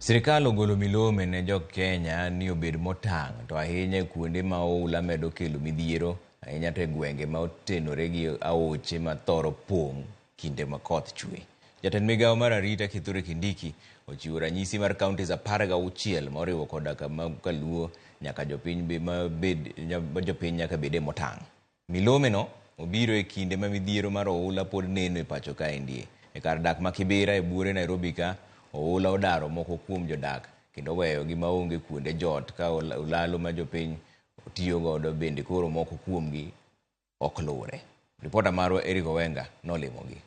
Sirkal ogolo milome ne jo Kenya ni obed motang' to ahinya e kuonde ma oula medo kelo midhiero, ahinya to e gwenge ma otenore gi aoche ma thoro pong' kinde ma koth chwe. Jatend migawo mar arita Kithure Kindiki ochiwo ranyisi mar counties apar gi auchiel ma oriwo koda ka Kaluo nyaka jopiny ma bed ma jopiny nyaka bede motang'. Milome no obiro e kinde ma midhiero mar oula pod neno e pacho kaendie. E kar dak ma Kibira e buore Nairobi ka, oula odaro moko kuom jodak kendo oweyo gi maonge kuonde jot ka olalo ma jopiny tiyo godo bende koro moko kuomgi ok luwre. Ripota marwa Eric Owenga nolimo gi.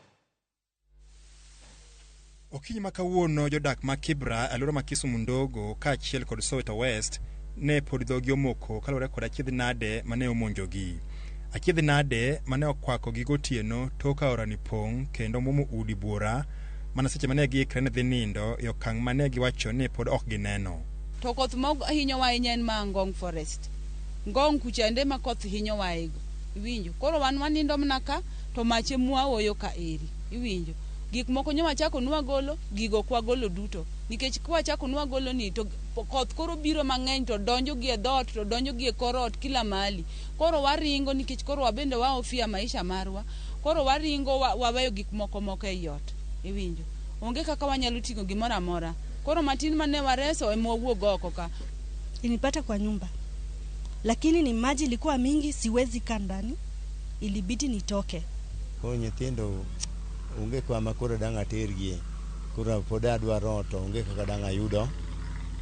Okinyi ma kawuono jodak ma Kibra alwora ma Kisumu Ndogo kaachiel kod Soweto West ne pod dhogi omoko kaluwore kod achiedh nade mane omonjogi. Achiedh nade mane okwako gi gotieno tok aorani pong' kendo mwomo udi buora mana seche mane giikre ni dhi nindo e okang' mane giwacho ni pod ok gineno. To koth ma hinyowa ahinya en ma Ngong Forest. Ngong kuchande ma koth hinyowaego. Iwinjo? Koro wan wanindo mana ka. to mach e mwaoyo ka eri. Iwinjo? Gik moko nyo wachako nwa golo, gigo ok wagolo duto. Nikech ka wachako nwa golo ni, to koth koro biro mang'eny to donjo gi e dhoot, to donjo gi e kor ot, kila mahali. Koro waringo nikech koro wabende wahofia maisha marwa. Koro waringo wa, waweyo gik moko moko ei ot. Iwinjo? Onge kaka wanyalo ting'o gimoro amora. Koro matin mane wareso e mwawuog oko ka. Ilinipata kwa nyumba. Lakini ni maji ilikuwa mingi, siwezi kaa ndani. ilibidi nitoke. Koro nyithindo onge kama koro dang' atergie, koro pod adwaro ot to onge kaka dang' ayudo,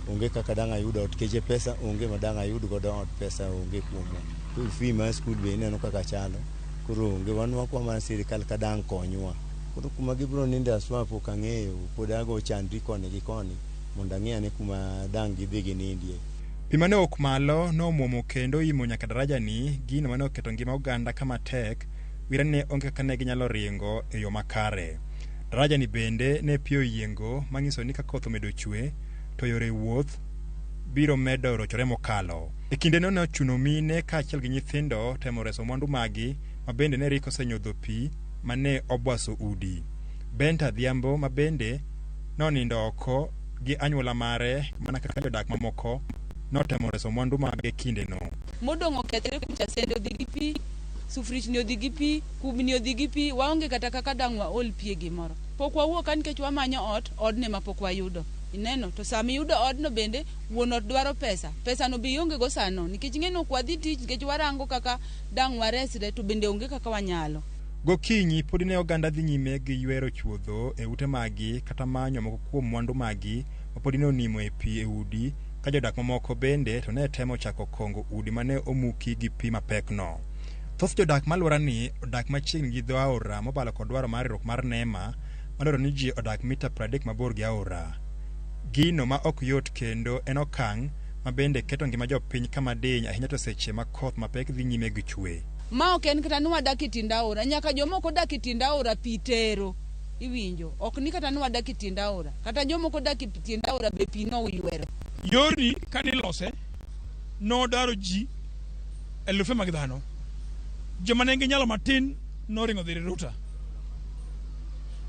onge kaka dang' ayudo ot keche pesa onge ma dang' ayud godo ot pesa onge kuomwa. School fee mar school be ineno kaka chalo, koro onge wan wakwa mana sirikal ka dang' konywa. Koro kuma gibiro ninde aswa pok ang'eyo, pod ago chandri koni gi koni mondo ang'e ane kuma dang' gidhi ginindie. Pi mane owuok malo nomwomo kendo oimo nyaka darajani, gino mane oketo ngima oganda kama tek, wi rani ne onge kaka ne ginyalo ringo e yo makare. Darajani bende ne pi oyiengo manyiso ni ka koth omedo chwe to yore wuoth biro medo rochore mokalo. E kindeno ne ochuno mine kaachiel gi nyithindo temo reso mwandu maggi ma bende ne rik osenyodho pi mane obwaso udi. Benta Adhiambo ma bende nonindo oko gi anyuola mare mana kaka jodak mamoko notemo reso mwandu mage kindeno. modong' okethre kucha sende odhi gi pi sufrichni odhi gi pi kubni odhi gi pi waonge kata kaka dang' waol pi e gimoro pok wawuok ka nikech wamanyo ot odne ma pok wayudo ineno to sama iyudo odno bende wuon ot dwaro pesa pesano be ionge go sano nikech ing'e ni ok wadhi tich nikech warango kaka dang' waresre to bende onge kaka wanyalo Gokinyi podi ne oganda dhi nyime gi ywero chuodho e ute maggi kata manyo moko kuom mwandu maggi ma podi ne onimo e pi e udi, ka jodak mamoko bende to ne temo chako kongo udi ma ne omuki gi pi mapekno. Thoth jodak ma alworani odak machiegni gi dho aora mobalo kod dwaro mar riwruok mar NEMA ma dwaro ni ji odak mita 30 mabor gi aora. Gino ma ok yot kendo en okang' ma bende keto ngima jopiny kama diny ahinya to seche ma koth mapek dhi nyime gi chwe. Ma ok en kata ni wadak e tiend aora, nyaka joma ok odak e tiend aora pi tero. Iwinjo? Ok ni kata ni wadak e tiend aora. Kata joma ok odak e tiend aora be pi noywero. Yorni ka nilose, nodaro ji elufe mag dhano. Joma ne nigi nyalo matin noringo dhi Riruta.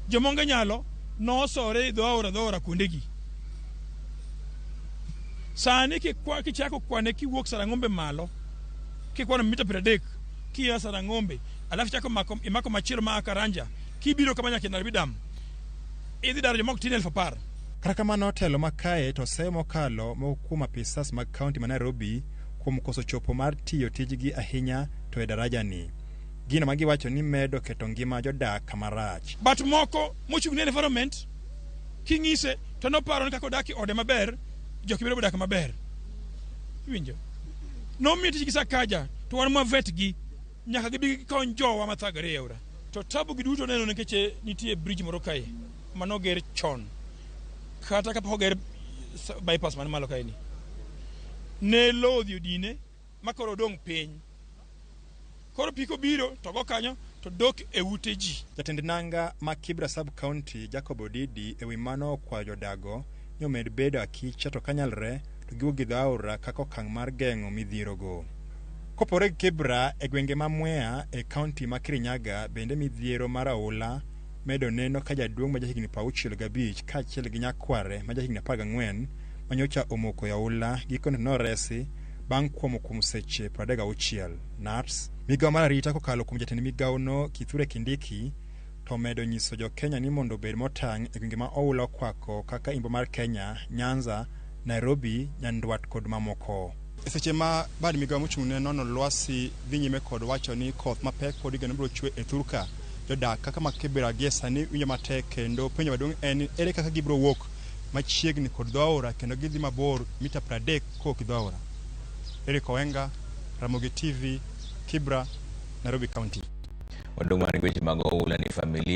Joma onge nyalo nosore dho aora dho aora kuondegi. Sani kichako kwane kiwuok Sarang'ombe malo, kikwano mita piero adek kia Sarang'ombe, alafu chako mako, imako machielo ma Karanja kibiro kama nyaka Nairobi Dam, idhi daro joma ok tin elfu apar. Kata kamano telo ma kae to seyo mokalo moko kuom apisas mag kaunti ma Nairobi kuom koso chopo mar tiyo tijgi ahinya to e darajani. Gino ma giwacho ni medo keto ngima jodak kama rach. But moko mochung' ne environment king'ise to noparo ni kaka odak e ode maber, jokibiro bodak maber. Iwinjo? nomiyo tijgi Sakaja to wan mwavetgi nyaka gibi gikony jowa mathagre e aora to tabu gi duto neno nikech eh, nitie bridge moro kae mano ger chon kata kapok oger bypass man malo kaeni ne lowo odhi odine makoro odong' piny Koro pi kobiro to go kanyo to dok e ute ji. Jatend nanga ma Kibra Sub-County Jacob Odidi e wi mano okwayo jodago ni omed bedo akicha to kanyalre to giwuog gidho aora kaka okang' mar geng'o midhierogo. Kopogore gi Kibra, e gwenge ma Mwea e kaunti ma Kirinyaga bende midhiero mar aula medo neno ka jaduong' ma jahigni prauchiel gabich kaachiel gi nyakware ma jahigni apar gang'wen manyocha omoko e aula gikone to noresi bang' kuomo kuom seche 36. NATS, Migawo mar arita kokalo kuom jatend migawono Kithure Kindiki to omedo nyiso jo Kenya ni mondo obed motang' e gwenge ma oula okwako kaka Imbo mar Kenya, Nyanza, Nairobi, Nyandwat kod mamoko. E seche ma bad migawo mochung' ne nono lwasi dhi nyime kod wacho ni koth mapek pod igeno biro chwe e thurka, jodak kaka ma Kibra gie sani winjo matek kendo penjo maduong' en ni ere kaka gibiro wuok machiegni kod dho aora kendo gidhi mabor mita 30 Kok Dhaora, Eric Owenga, Ramogi TV, Kibra, Nairobi County. Wadong' mana gi weche mag oula ni familia